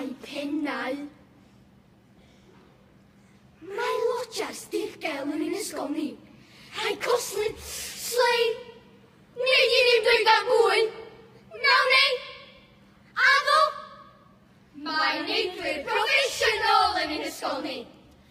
Llai pennau. Mae lodger Steve Gael yn un ysgol ni. Rhai coslyd, slei, neu i ni'n dweud am fwy. Naw neu? Addo? Mae'n neidwyr proffesiynol yn un ysgol ni.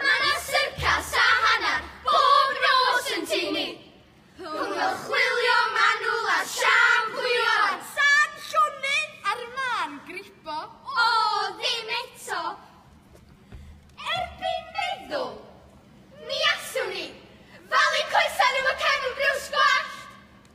Mae 'na syrcas a hanner bob nos yn tŷ ni! Rhwng y chwilio manwl a'r siampwio a'r tân llonydd a'r mân gripo, o, ddim eto! Erbyn meddwl, mi allwn ni falu coesau nhw efo cefn briws gwallt!